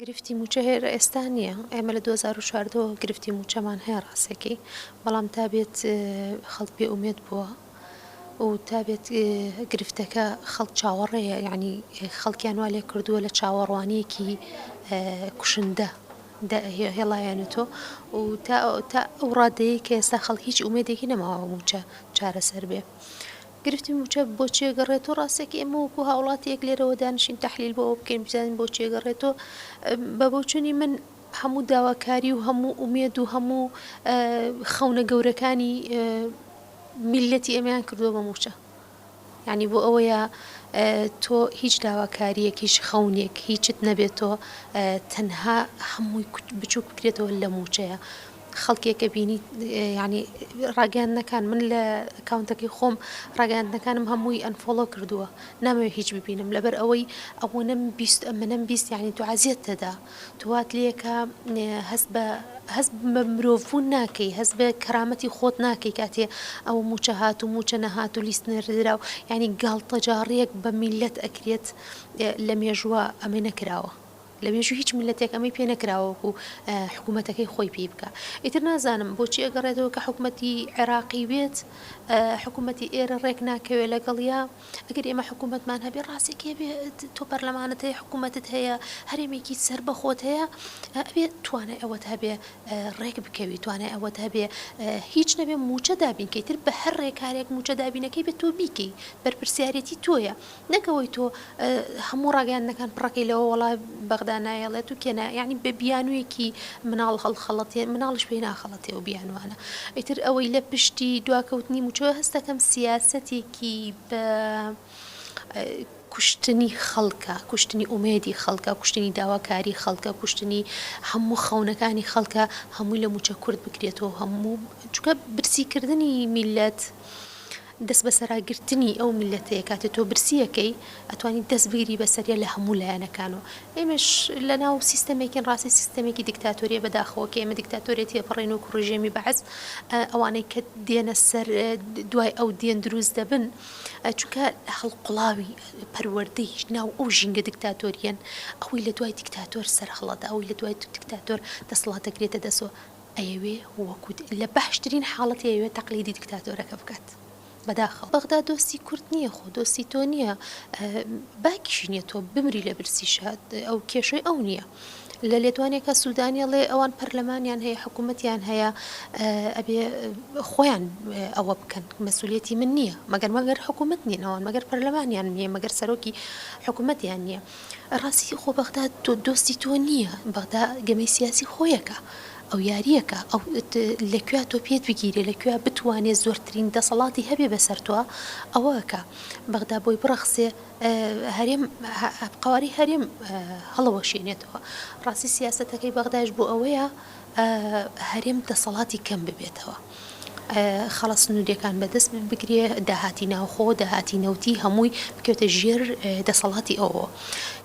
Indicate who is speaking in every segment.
Speaker 1: گرفتی موچە هێر ئێستا نیە ئێمە لە دوو هەزار و چواردە وە گرفتی موچەمان هەیە ڕاستەکی بەڵام تا بێت خەڵک بێ ئومێد بووە و تا بێت گرفتەکە خەڵک چاوەڕێیە یعنی خەڵکیان وا لێ کردووە لە چاوەڕوانیەکی کوشندە هێڵایەنێتۆ و تا ئەو ڕادەیە کە ئێستا خەڵک هیچ ئومێدێکی نەماوە موچە چارەسەر بێ. گرفتی مووچە بۆ چی ئەگەڕێتۆ؟ ڕاستە کە ئێمە وەکو هاوڵاتیەک لێرەوە دانیشین تەحلیل بۆ ئەوە بکەین بزانین بۆ چی ئەگەڕێتۆ؟ بە بۆچونی من هەموو داواکاری و هەموو ئومێد و هەموو خەونە گەورەکانی میللەتی ئێمەیان کردووە بە مووچە. یعنی بۆ ئەوەیە تۆ هیچ داواکاریەک هیچ خەونێک هیچت نەبێتۆ تەنها هەمووی بچووک بکرێتەوە لە مووچەیە. خەڵکێک ئەبینیت یانی ڕاگەیاندنەکان من لە ئەکاونتەکەی خۆم ڕاگەیاندنەکانم هەمووی ئەنفۆڵۆ کردووە نامەوێ هیچ ببینم لەبەر ئەوەی ئەوەنەم بیست ئەمەم بیست یعنی تو عزیەت تەدا توات لەکە هەست بە هەست بە مرۆڤون ناکەی هەست بە کەرامەتی خۆت ناکەی کاتێ ئەو موچە هات و موچە نەهات و لیست نەردرا و یعنی گاڵتەجاڕیەک بە میلەت ئەکرێت لە مێژووە ئەمە نەکراوە. لە مێژووی هیچ میللەتێک ئەمەی پێ نەکراوە وەکو حکومەتەکەی خۆی پێی بکا ئیتر نازانم بۆچی ئەگەڕێتەوە کە حکومەتی عێراقی بێت حکومەتی ئێرە ڕێک ناکەوێ لەگەڵیا ئەگەر ئێمە حکومەتمان هەبێ ڕاستی کێ بێ تۆ پەرلەمانت هەیە حکومەتت هەیە هەرێمێکی سەر بەخۆت هەیە ئەبێ توانای ئەوەت هەبێ ڕێک بکەوی توانای ئەوەت هەبێ هیچ نەبێ موچە دابینکەی تر بە هەر ڕێکارێک موچە دابینەکەی بێت تۆ بیکەی بەرپرسیارەتی تۆیە نەک ئەوەی تۆ هەموو ڕاگەیاندنەکان پڕەکەی لەوە وەڵا بەغدا نایەڵێت و کێ نا یانی بە بیانوویەکی مناڵ هەڵخەڵەتێ مناڵیش پێی ناخەڵەتێ ئەو بیانووانە ئیتر ئەوەی لە پشتی دواکەوتنی مووچەوە هەست دەکەم سیاسەتێکی بە کوشتنی خەڵکە کوشتنی ئومێدی خەڵکە کوشتنی داواکاری خەڵکە کوشتنی هەموو خەونەکانی خەڵکە هەمووی لە مووچە کورد بکرێتەوە هەموو چکە برسیکردنی میلەت دەست بەسەراگرتنی ئەو میللەتەیە کاتێ تۆ برسیەکەی ئەتوانی دەست بگری بەسەریا لە هەموو لایەنەکانەوە ئێمەش لەناو سیستەمێکین ڕاستی سیستەمێکی دیکتاتۆریە بەداخەوە کە ئێمە دیکتاتۆریەتی ئەپەڕێن وەکو ڕژێمی بەعس ئەوانەی کە دێنە سەر دوای ئەو دێن دروست دەبن چونکە هەڵقڵاوی پەروەردەی ناو ئەو ژینگە دیکتاتۆریەن ئەوی لە دوای دیکتاتۆر سەرهەڵەدا ئەوی لە دوای دیکتاتۆر دەسڵات دەگرێتە دەسەوە ئەیەوێ وەکو لە باشترین حاڵەت ئەیەوێ تەقلیدی دکتاتۆرەکە بکات بەداخەوە بەغدا دۆستی کورد نیە خۆ دۆستی تۆ نیە باکیشی نیە تۆ بمری لە برسی شاد ئەو کێشەی ئەو نیە لە لێدوانێکە سوودانیڵێ ئەوان پەرلەمانیان هەیە حکوومەتیان هەیە ئەبێ خۆیان ئەوە بکەن مەسولەتی من نییە مەگەر مەگەر حکوومەت نیە ئەوان مەگەر پەرلەمانیان نیە مەگەر سەرۆکی حکوومەتیان نییە ڕاستی خۆ بەغدا دۆستی تۆ نییە بەغدا گەمەی سیاسی خۆیەکە ئەو یاریەکە ئەو لە کوێ تۆ پێت بگیرێ لە کوێ بتوانێت زۆرترین دەسەڵاتی هەبێ بەسەر تۆ ئەوەکە بەغدا بۆی بڕەخسێ هەرێم قواری هەرێم هەڵەوەشێنێتەوە ڕاستی سیاستەکەی بەغداش بۆ ئەوەیە هەرێم دەسەڵاتی کەم ببێتەوە خاڵە سنوریەکان بەدەست بگرێ، داهاتی ناوخۆو داهاتی نەوتی هەمووی بکەوێتە ژێر دەسەڵاتی ئەوەوە.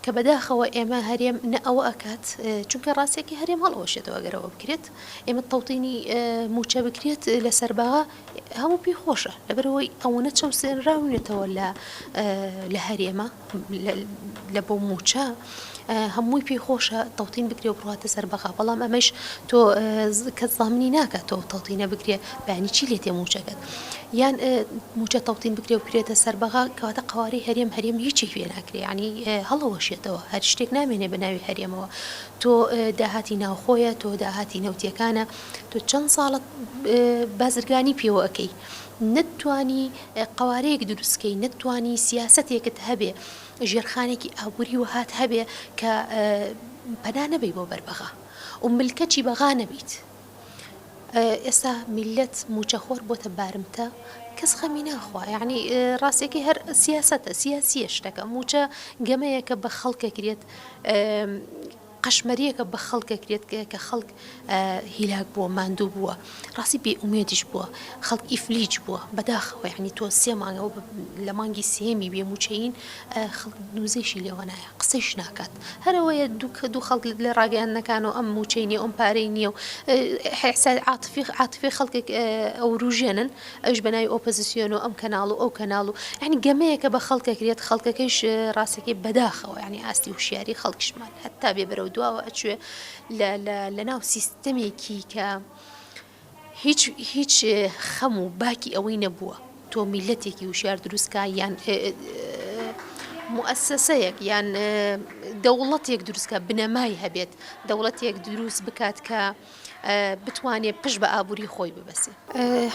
Speaker 1: کە بەداخەوە ئێمە هەرێم نە ئەوە ئەکات، چونکە ڕاستیەکەی هەرێم هەڵئەوەشێتەوە ئەگەر ئەوە بکرێت، ئێمە تەوتینی موچە بکرێت لە سەرباغا هەموو پێی خۆشە، لەبەرئەوەی ئەوەنە چەوسێنراونەتەوە لە هەرێمە، لە بۆ موچە هەمووی پێی خۆشە تەوتین بکرێ و بڕاتە سەر بەغا بەڵام ئەمەش تۆ کەس زامنی ناکات تۆ تەوتینە بکرێ بەنی چی لێتێ موچەکەت یان موچە تەوتین بکرێ و کرێتە سەر بەغا کەواتە قواری هەرێم هەرێم هیچی هوێ ناکرێ ینی هەڵەوەشێتەوە هەر شتێک نامێنێ بە ناوی هەرێمەوە تۆ داهاتی ناوخۆیە تۆ داهاتی نەوتیەکانە تۆ چەند ساڵت بازرگانی پێوەکەی نەتتوانی قەوارەیەک دروست کەی نەتتوانی سیاسەتێکت هەبێ ژێرخانێکی ئابوری وەهات هەبێ کە پەنا نەبەی بۆ بەر بەغا و ملکەچی بەغا نەبیت ئێستا میلەت موچە خۆر بۆتە بارمتە کەس خەمی ناخوا یعنی ڕاستەکەی هەر سیاسەتە سیاسیە شتەکە موچە گەمەیەکە بە خەڵکەکرێت قەشمەریەکە بە خەڵک ئەکرێت کە خەڵک هیلاک بووە ماندوو بووە ڕاستی بێ ئومێدیش بووە خەڵک ئیفلیج بووە بەداخەوە یعنی تۆ سێ مانگەوە لە مانگی سێمی بێ موچەین خەڵک نوزەیشی لێوەنایە قسەیش ناکات هەرەوەیە دووکە دوو خەڵک لە ڕاگەیاندنەکان و ئەم موچەی نیە ئەم پارەی نییە و حسای عاتفی عاتفی خەڵکێک ئەوروژێنن ئەویش بەناوی ئۆپزسیۆن و ئەم کەناڵ و ئەو کەناڵ و یعنی گەمەیەکە بە خەڵکەکرێت خەڵکەکەیش ڕاستەکەی بەداخەوە یعنی ئاستی هوشیاری خەڵکشمان هەتا بێ بەرەو دواوە ئەچێ لە ناو سیستەمێکی کە هیچ هیچ خەم و باکی ئەوەی نەبووە تۆ میلەتێکی وشار دروستکە یان مؤسسەیەک یان دەوڵەتێک دروستکە بنەمای هەبێت دەوڵەتێک دروست بکات کە بتوانێ پشت بە ئابووری خۆی ببەسێ.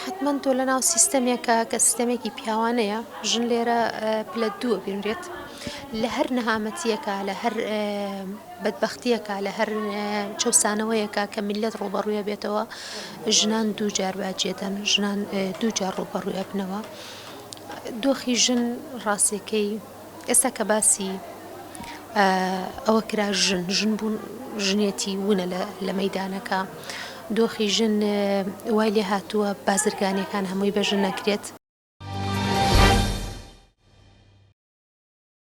Speaker 1: حەتمەن تۆ لەناو سیستەمێکە کە سیستەمێکی پیاوانەیە، ژن لێرە پلە دووە بینرێت. لە هەر نەهامەتیەکە، لە هەر بەدبەختیەکە، لە هەر چەوسانەوەیەکە کە میللەت ڕووبەڕووی ئەبێتەوە، ژنان دوو جار باجی ئەدەن، ژنان دوو جار ڕووبەڕووی ئەبنەوە. دۆخی ژن ڕاستیەکەی، ئێستا کە باسی ئەوە کرا ژن، ژن بوون، ژنێتی وونە لە مەیدانەکە، دۆخی ژن وای لێ هاتووە بازرگانییەکان هەمووی بە ژن ئەکرێت،